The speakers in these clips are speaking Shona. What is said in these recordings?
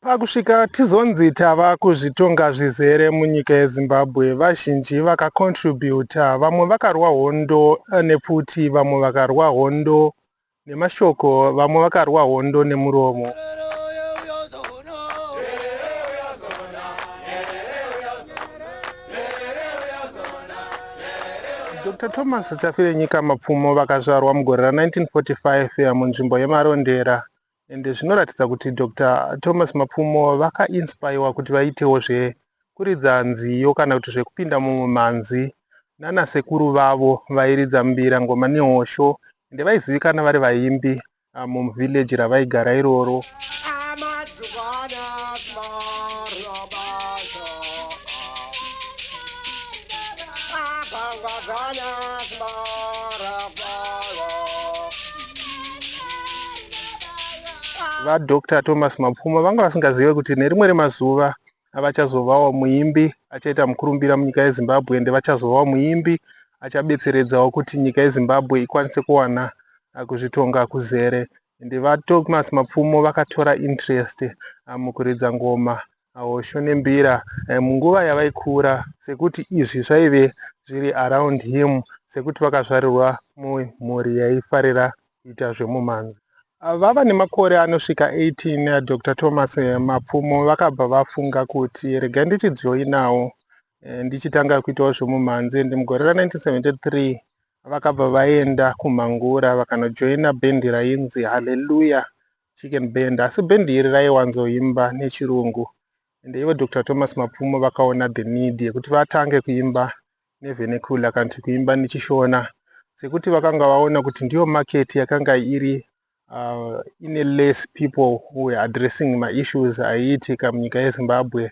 Pakusvika tizonzi tava kuzvitonga zvizere munyika yeZimbabwe, vazhinji vakacontributa, vamwe vakarwa hondo nepfuti, vamwe vakarwa hondo nemashoko, vamwe vakarwa hondo nemuromo. Dr Thomas Chafirenyika Mapfumo vakazvarwa mugore ra 1945 munzvimbo yeMarondera Ende zvinoratidza kuti Doctor Thomas Mapfumo vaka inspaiwa kuti vaitewo zve kuridza nziyo kana kuti zvekupinda mumwe mhanzi nana sekuru vavo vairidza mbira ngoma nehosho ende vaizivikana vari vaimbi ah, mum village ravaigara iroro. VaDr Thomas Mapfuma vanga vasingazive kuti nerimwe remazuva avachazovawo muimbi achaita mukurumbira munyika yeZimbabwe ende vachazovawo muimbi achabetseredzawo kuti nyika yeZimbabwe ikwanise kuwana ah, kuzvitonga kuzere ende VaThomas Mapfumo vakatora interest ah, mukuridza ngoma hosho nembira eh, munguva yavaikura sekuti izvi zvaive zviri around him sekuti vakazvarirwa mumhuri yaifarira kuita zvemumhanzi ah, vava nemakore anosvika 18 eh, dr thomas eh, mapfumo vakabva vafunga kuti regai ndichijoinawo ndichitanga kuitawo zvemumhanzi ndi mugore ra 1973 vakabva vaenda kumhangura vakanojoina bhendi rainzi haleluya Chicken Band asi band iri raiwanzoimba nechirungu and ivo Dr Thomas Mapfumo vakaona the need yekuti vatange kuimba nevernacular kana kuti kuimba nechishona sekuti vakanga vaona kuti ndiyo market yakanga iri uh, ine less people who were addressing maissues aiitika munyika yezimbabwe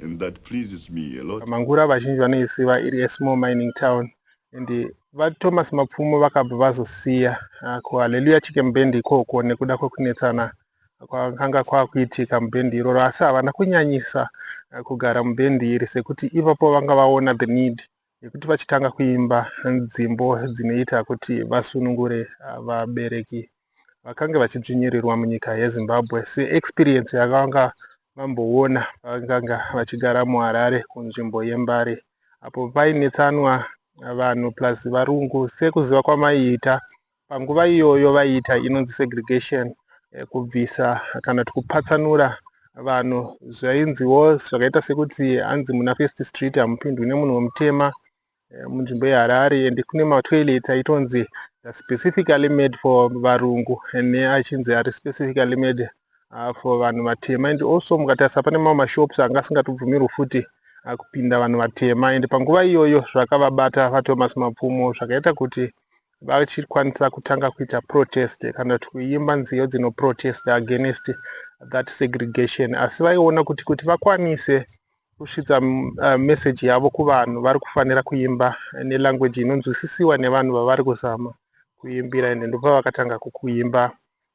and that pleases me a lot. Mangura vazhinji vanoisiva iri a small mining town and vaThomas Mapfumo vakabva vazosiya ah, ku Hallelujah Chicken Band ikoko nekuda kwekunetsana kwakanga kwakuitika mubhendi iroro asi havana kunyanyisa ah, kugara mubhendi iri sekuti ipapo vanga vaona the need yekuti vachitanga kuimba nzimbo dzinoita kuti vasunungure ah, vabereki vakange vachidzvinyirirwa munyika yezimbabwe seexperience yakavanga vamboona pavakanga vachigara muharare kunzvimbo yembare apo painetsanwa vanhu plus varungu sekuziva kwamaiita Panguva iyoyo vaiita inonzi segregation, eh, kubvisa kana kuti kupatsanura vanhu zvainziwo zvakaita sekuti hanzi muna first street hamupindwi nemunhu wemutema eh, munzvimbo yeharare and kune matoilet aitonzi specifically made for varungu neachinzi ari specifically made uh, for vanhu vatema and also mukatarisa pane mamwe mashops anga asingatobvumirwi futi uh, kupinda vanhu vatema and panguva iyoyo zvakavabata vatomas mapfumo zvakaita kuti vachikwanisa kutanga kuita protest kana kuti kuimba nziyo dzino protest against that segregation asi vaiona kuti kuti vakwanise kusvitsa uh, message yavo kuvanhu vari kufanira kuimba nelanguage inonzwisisiwa nevanhu vavari kuzama kuimbira ende ndopavakatanga kukuimba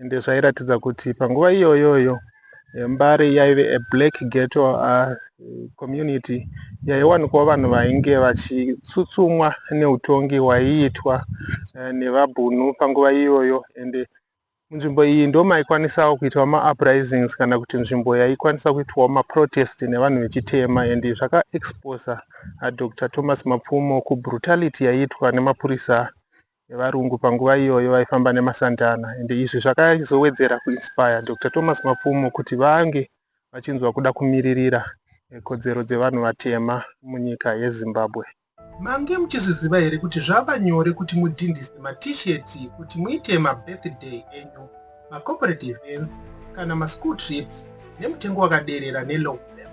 Ende zvairatidza kuti panguva iyoyoyo Mbare yaive a black ghetto uh, community yaiwanikwa vanhu vainge vachitsutsumwa neutongi waiitwa uh, nevabhunu panguva iyoyo ende munzvimbo iyi ndo maikwanisawo kuitwa mauprisings kana kuti nzvimbo yaikwanisa kuitwawo maprotest nevanhu vechitema and zvakaexposa uh, dr thomas mapfumo kubrutality yaiitwa nemapurisa nevarungu panguva iyoyo vaifamba nemasantana ende izvi zvakazowedzera kuinspire Doctor Thomas Mapfumo kuti vange vachinzwa kuda kumiririra kodzero dzevanhu vatema munyika yeZimbabwe. Mange muchizviziva here kuti zvava nyore kuti mudhindise ma t-shirt kuti muite ma birthday enyu. macorporate events kana maschool trips nemutengo wakaderera nelow level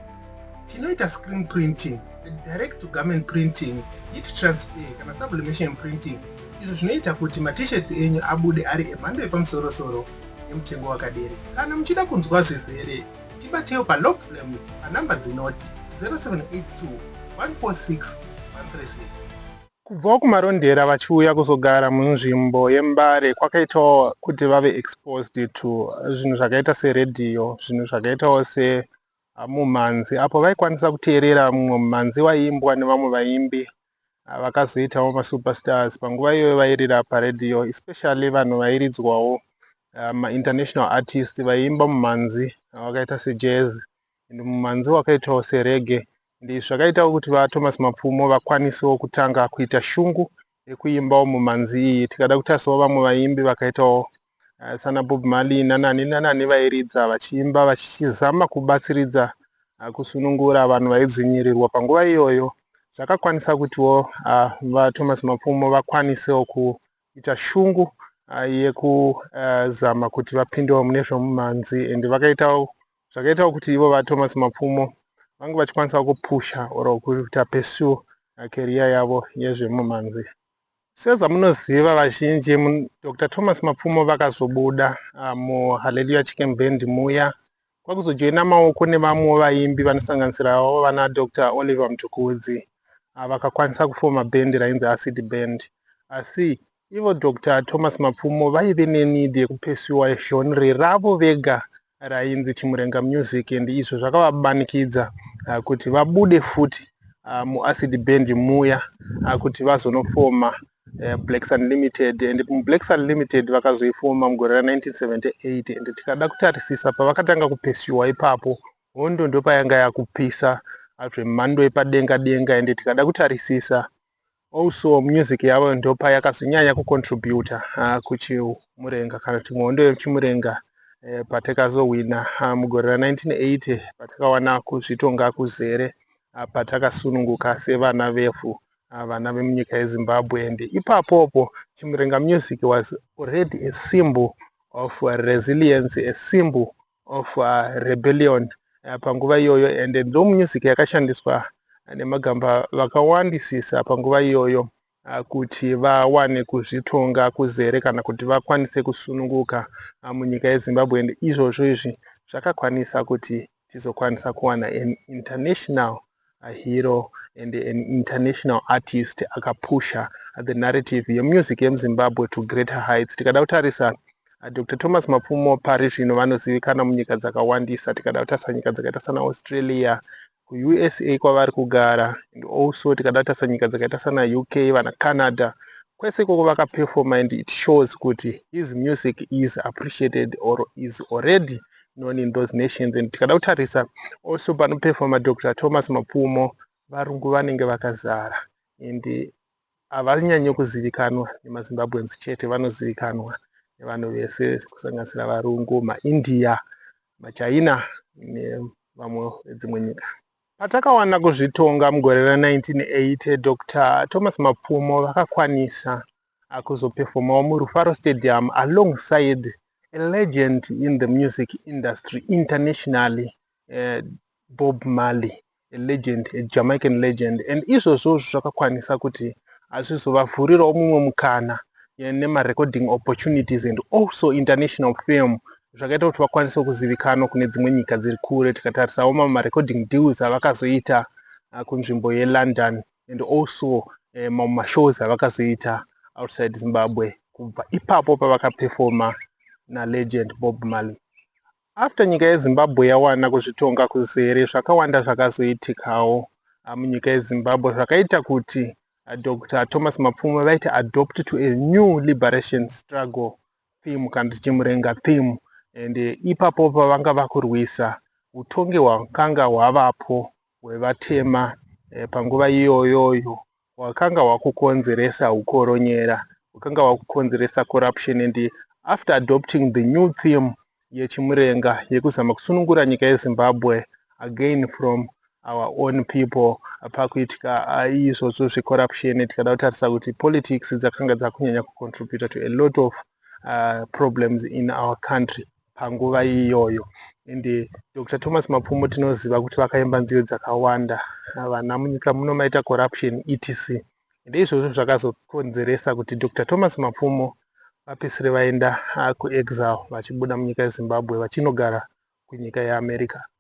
tinoita screen printing direct to garment printing heat transfer kana sublimation printing izvo zvinoita kuti matishirts enyu abude ari emhando yepamusorosoro nemutengo wakadere kana muchida kunzwa zvizere tibateyo palow flames panhamba dzinoti 0782 146 136 Kubvawo kuMarondera vachiuya kuzogara munzvimbo yeMbare kwakaitawo kuti vave exposed to zvinhu zvakaita seredhiyo, zvinhu zvakaitawo semumhanzi apo vaikwanisa kuteerera mumwe mumhanzi waiimbwa nevamwe vaimbi vakazoitawo masuperstars panguva iyoyo vairira paredhiyo especially vanhu vairidzwawo mainternational artist vaiimba mumhanzi vakaita sejazz and mumanzi wakaitawo serege ndizvo zvakaitawo kuti vaThomas Mapfumo vakwanisewo kutanga kuita shungu yekuimbawo mumanzi iyi tikada kutarisawo vamwe vaimbi vakaitawo eh, sana Bob Marley nanani nanani vairidza vachiimba vachizama kubatsiridza eh, kusunungura vanhu vaidzvinyirirwa panguva iyoyo zvakakwanisa kutiwo eh, vaThomas Mapfumo vakwanisewo kuita shungu yekuzama kuti vapindewo mune zvomumanzi and vakaitawo zvakaitawo kuti ivo VaThomas Mapfumo vange vachikwanisawo kupusha or kuita pursue career yavo yezvemumhanzi. Sezamunoziva vazhinji, Doctor Thomas Mapfumo vakazobuda ah, muHallelujah Chicken Band muya kwakuzojoina maoko nevamwewo vaimbi vanosanganisirawo vana Doctor Oliver Mtukudzi ah, vakakwanisa kufoma band rainzi Acid Band asi Ivo Doctor Thomas Mapfumo vaive neneed yekupesiwa genre ravo vega rainzi Chimurenga Music and izvo zvakavabanikidza ah, kuti vabude futi ah, muAcid Band muya ah, kuti vazonofoma eh, Black Sun Limited and muBlack Sun Limited vakazoifoma mugore ra 1978 and tikada kutarisisa pavakatanga kupesiwa ipapo hondo ndopayanga yakupisa zvemhando yepadenga denga and tikada kutarisisa Also music yavo ndopa yakazonyanya kucontributa uh, kuchimurenga kana kuti muhondo yechimurenga eh, patakazowina uh, mugore ra 1980 patakawana kuzvitonga kuzere uh, patakasununguka sevana vevhu uh, vana vemunyika yezimbabwe and ipapopo chimurenga music was already a symbol of resilience a symbol of uh, rebellion uh, panguva iyoyo and ndo music yakashandiswa nemagamba vakawandisisa panguva iyoyo uh, kuti vawane kuzvitonga kuzere kana kuti vakwanise kusununguka uh, munyika yezimbabwe and izvozvo izvi zvakakwanisa kuti tizokwanisa kuwana an international a hero and an international artist akapusha the narrative yemusic yemuzimbabwe to greater heights tikada kutarisa uh, dr thomas mapfumo pari zvino vanozivikana munyika dzakawandisa tikada kutarisa nyika dzakaita sana australia kuusa kwavari kugara and also tikada kutarisa nyika dzakaita sana uk vana canada kwese ikoko vakaperforma and it shows kuti his music is appreciated or is already known in those nations and tikada kutarisa also panoperfoma dr thomas mapfumo varungu vanenge vakazara and havanyanyo kuzivikanwa nemazimbabweans chete vanozivikanwa nevanhu vese kusanganisira varungu maindia machina nevamwe vedzimwe nyika patakawana kuzvitonga mugore ra 1980 dr thomas mapfumo vakakwanisa akuzoperfomawo muRufaro Stadium alongside a legend in the music industry internationally uh, Bob Marley a legend a Jamaican legend and izvozvo zvakakwanisa kuti azvizovavhurirawo mumwe mukana eh, nemarecording opportunities and also international film zvakaita kuti vakwanise kuzivikanwa kune dzimwe nyika dziri kure tikatarisawo mamwe marecording deals avakazoita ah, kunzvimbo yelondon and also eh, mamwe mashows avakazoita outside zimbabwe kubva ipapo pavakapefoma nalegend bob marley after nyika yezimbabwe yawana kuzvitonga kuzere zvakawanda zvakazoitikawo ah, munyika yezimbabwe zvakaita kuti ah, dr thomas mapfuma vaiti adopt to a new liberation struggle theme kana tichimurenga theme and eh, ipapo pavanga vakurwisa utongi hwakanga hwavapo hwevatema panguva iyoyoyo hwakanga hwakukonzeresa ukoronyera hwakanga hwakukonzeresa corruption and after adopting the new theme yechimurenga yekuzama kusunungura nyika yezimbabwe again from our own people pakuitika izvozvo zvecorruption tikada kutarisa kuti politics dzakanga dzakunyanya kucontributa to a lot of uh, problems in our country panguva iyoyo ende Dr Thomas Mapfumo tinoziva kuti vakaimba nziyo dzakawanda vana munyika muno maita corruption etc ndeizvozvo zvakazokonzeresa kuti Dr Thomas Mapfumo vapesire vaenda ah, kuexile vachibuda munyika yeZimbabwe vachinogara kunyika yeAmerica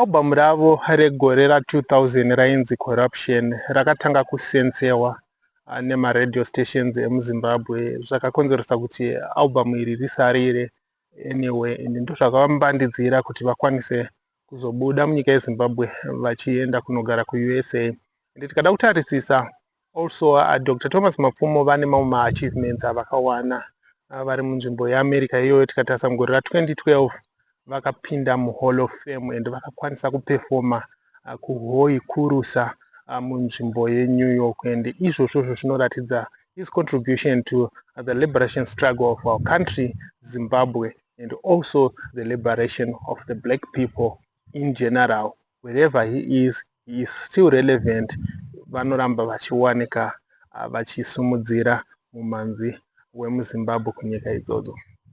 Album ravo regore ra 2000 rainzi Corruption rakatanga kusensewa ah, nemaradio stations emuzimbabwe zvakakonzeresa kuti album iri risarire anyway and ndozvakavambandidzira kuti vakwanise kuzobuda munyika yeZimbabwe vachienda kunogara kuUSA and tikada kutarisisa also uh, Dr Thomas Mapfumo vane mamwe maachievements avakawana uh, vari munzvimbo yeAmerica iyoyo tikatarisa mugore ra 2012 vakapinda muhall of fame and vakakwanisa kupefoma uh, kuhoyi kurusa uh, munzvimbo yeNew York and izvozvo zvo zvinoratidza his contribution to uh, the liberation struggle of our country Zimbabwe and also the liberation of the black people in general wherever he is he is still relevant vanoramba vachiwanika ah, vachisimudzira mumhanzi wemuzimbabwe kunyika idzodzo